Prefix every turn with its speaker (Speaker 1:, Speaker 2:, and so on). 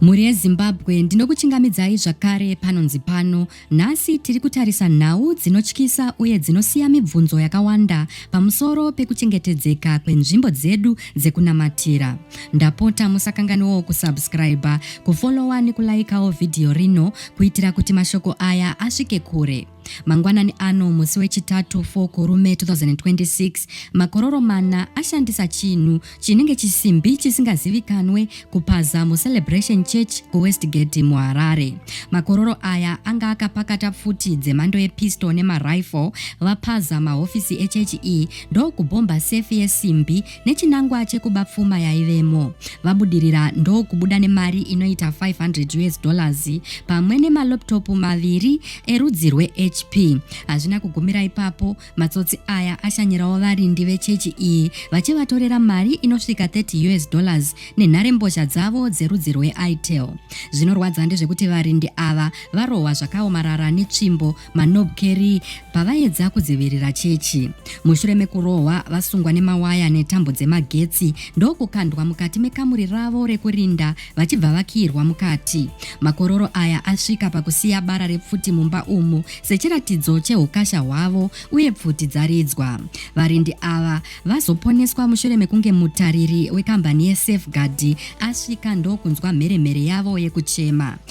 Speaker 1: Mhuri yeZimbabwe ndinokuchingamidzai zvakare panonzi pano. Nhasi tiri kutarisa nhau dzinotyisa uye dzinosiya mibvunzo yakawanda pamusoro pekuchengetedzeka kwenzvimbo dzedu dzekunamatira. Ndapota musakanganiwawo kusubscriber, kufollower nekulaikawo vhidhiyo rino kuitira kuti mashoko aya asvike kure. Mangwanani ano musi weChitatu 4 Kurume 2026, makororo mana ashandisa chinhu chinenge chisimbi chisingazivikanwe kupaza muCelebration Church kuWestgate muHarare. Makororo aya anga akapakata pfuti dzemhando yepistol nemarifle vapaza mahofisi echechi iyi ndokubhomba sefi yesimbi nechinangwa chekuba pfuma yaivemo. Vabudirira ndokubuda nemari inoita 500 US dollars pamwe nemalaptop maviri erudzi rweHP. Hazvina kugumira ipapo, matsotsi aya ashanyirawo varindi vechechi iyi vachivatorera mari inosvika 30 US dollars nenharembozha dzavo dzerudzi rweitel. Zvinorwadza ndezvekuti varindi ava varohwa zvakaomarara netsvimbo Manob Kerry pavaedza kudzivirira chechi. Mushure mekurohwa, vasungwa nemawaya netambo dzemagetsi ndokukandwa mukati mekamuri ravo rekurinda vachibva vakiirwa mukati. Makororo aya asvika pakusiya bara repfuti mumba umu sechiratidzo cheukasha hwavo uye pfuti dzaridzwa. Varindi ava vazoponeswa mushure mekunge mutariri wekambani yeSafeguard asvika ndokunzwa mheremhere yavo yekuchema.